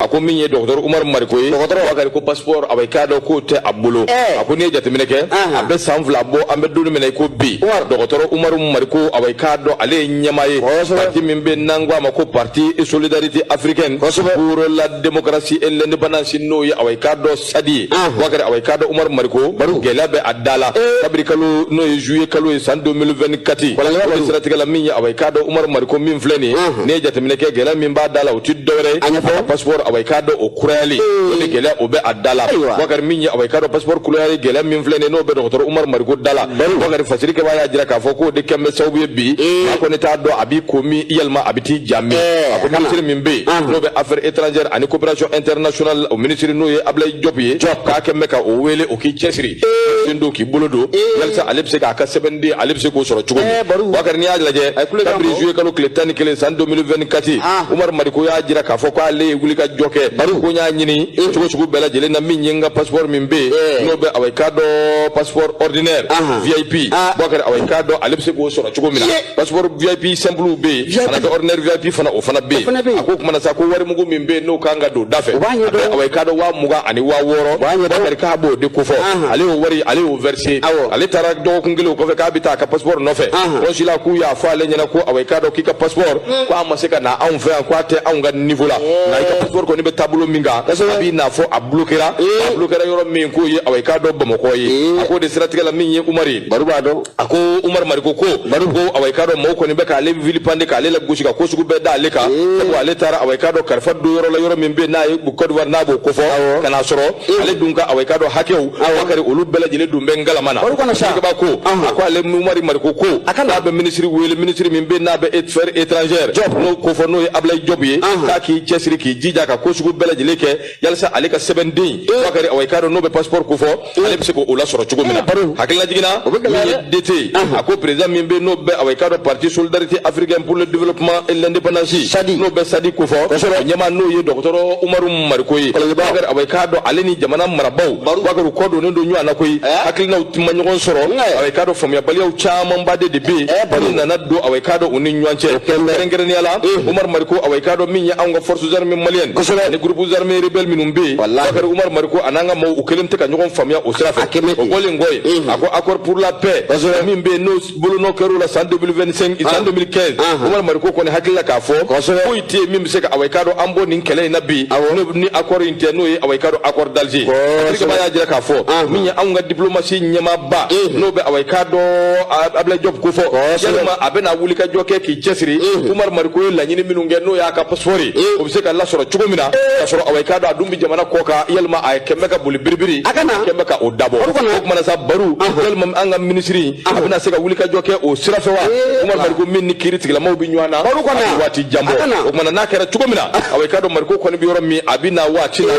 a ko min ye dɔgɔtɔrɔ umaru mariko ye bakari ko pasipɔrɔ awa i k'a dɔn k'o tɛ a bolo a ko n'i ye jateminɛ kɛ a bɛ san fila bɔ an bɛ don min na i ko bi dɔgɔtɔrɔ umaru mariko awa i k'a dɔn ale ye ɲɛmaa ye parti min bɛ n'an ko a ma ko parti solidarité africaine pour la démocratie et l'indépendance n'o ye awa i k'a dɔn sadi bakari awa i k'a dɔn umaru mariko gɛlɛya bɛ a da la kabiri kalo n'o ye juye kalo ye san 2024 o siratigɛ la min ye awa i k'a dɔn umaru mariko min filɛ nin n'i ye jateminɛ kɛ gɛlɛya min b'a da la o tɛ dɔwɛrɛ ye a pasipɔri awa i k'a dɔn o kurayali o de gɛlɛya o bɛ a da la bakari min ye awa i k'a dɔn pasipɔri kurayali gɛlɛya min filɛ nin n'o bɛ dɔgɔtɔrɔ umaru mariko da la bakari fasiri kɛbaa y'a jira k'a fɔ k'o de kɛlen bɛ sababu ye bi a kɔni t'a dɔn a b'i komi yalima a bɛ t'i ja min a ko minisiri min bɛ yen n'o bɛ affaire étrangère ani coopération internationale o minisiri n'o ye Ablaye Diop ye k'a kɛlen bɛ ka o wele o k'i cɛsiri sen don k'i bolo don yalisa ale bɛ se k'a ka sɛbɛnden ale bɛ se k'o sɔrɔ cogo min Bubakari n'i y'a lajɛ kabiri juillet kalo tile tan ni kelen san 2024 Umaru Mariko y'a jira k'a fɔ k'ale ye wulikajɔ kɛ ko n y'a ɲini cogo sugu bɛɛ lajɛlen na min ye n ka passeport min bɛ yen n'o bɛ awa i k'a dɔn passeport ordinaire VIP Bubakari awa i k'a dɔn ale bɛ se k'o sɔrɔ cogo min na passeport vip simple bɛ yen ka na kɛ ordinaire vip fana o fana bɛ yen a ko kuma na sa ko wari mugu min bɛ yen n'o kan ka don da fɛ a bɛ awa i k'a dɔn waa mugan ani waa wɔɔrɔ bakari k'a b'o de kofɔ ale y'o wari ale y'o verser ale taara dɔgɔkun kelen o kɔfɛ k'a bɛ taa a ka passeport nɔfɛ kɔnsila k'u y'a fɔ ale ɲɛ na ko awa i k'a dɔn k'i ka passeport mm. ko a ma se ka na anw fɛ yan ko a tɛ anw ka niveau la nka i ka passeport kɔni bɛ taabolo min kan a b'i n'a fɔ a bloquera a bloquera yɔrɔ min k'o ye awa i k'a dɔn bamakɔ ye a k'o de siratigɛ la min ye umari ye baro b'a dɔn a ko umaru mariko ko ko awa i k'a dɔn mɔgɔw kɔni bɛ k'ale vilipender k'ale lagosi ka ko sugu bɛɛ da ale kan sabu ale taara awa i k'a dɔn kalifa don yɔrɔ la yɔrɔ min bɛ n'a ye kɔdiwari n'a b'o kofɔ ka n'a sɔrɔ ale dun ka awa i k'a dɔn hakɛw bakari olu bɛɛ lajɛlen dun bɛ ngalama na fasiri kɛbaa ko a ko ale umaru mariko ko a ka n'a bɛ minisiri wele minisiri min bɛ n'a bɛ affaire étrangère n'o kofɔ n'o ye abilayi jɔpu ye k'a k'i cɛsiri k'i jija ka ko sugu bɛɛ lajɛlen kɛ yalisa ale ka sɛbɛnden bakari awa i k'a dɔn n'o bɛ passeport ko fɔ ale bɛ se k'o lasɔrɔ cogo min na hakililajigin na min ye DT a ko président min bɛ n'o bɛ awa i k'a dɔn parti solidarité africaine pour le développement et l'indépendance n'o bɛ sadi ko fɔ a ɲɛmaa n'o ye dɔgɔtɔrɔ umaru mariko ye bakari awa i k'a dɔn ale ni jamana marabaaw bakari u kɔ donnen don ɲɔgɔn na koyi hakilinaw tun ma ɲɔgɔn sɔrɔ awa i k'a dɔn faamuyabaliyaw camanba de de bɛ yen minnu nana don awa i k'a dɔn u ni ɲɔgɔn cɛ kɛrɛnkɛrɛnnenya la umaru mariko awa i k'a dɔn min ye anw ka force armées maliennes ni groupe armées rebelles minnu bɛ yen bakari umar mariko a n'an ka maaw u kɛlen tɛ ka ɲɔgɔn faamuya o sira fɛ o bɔlen kɔ yen a ko accord pour la paix min bɛ yen n'o bolonɔ kɛra o la san 2025 san 2015 umar mariko kɔni hakili la k'a fɔ ko tɛ yen min bɛ se ka awa i k'a dɔn an bɔ nin kɛlɛ in na bi ni accord in tɛ n'o ye awa i k'a dɔn accord d'Alger fasiri kɛbaa y'a jira k'a fɔ min ye anw ka diplomasi ɲɛmaaba n'o bɛ awa i k'a dɔn Abulayi Jɔpu kofɔ yalima a bɛna wulikajɔ kɛ k'i cɛsiri Umaru Mariko ye laɲini minnu kɛ n'o y'a ka passeport ye o bɛ se ka lasɔrɔ cogo min na k'a sɔrɔ awa i k'a dɔn a dun bɛ jamana kɔ kan yalima a kɛlen bɛ ka boli biribiri a kɛlen bɛ ka o dabɔ o tuma na sa Baru yalima an ka minisiri a bɛna se ka wulikajɔ kɛ o sira fɛ wa Umaru Mariko min ni kiiri tigilamaw bɛ ɲɔgɔn na a bɛ waati jan bɔ o tuma na n'a kɛra cogo min na awa i k'a dɔn Mariko kɔni bɛ yɔrɔ min a bɛ na waati la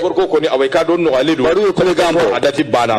passeport ko kɔni awa i k'a dɔn nɔgɔyalen don a dati banna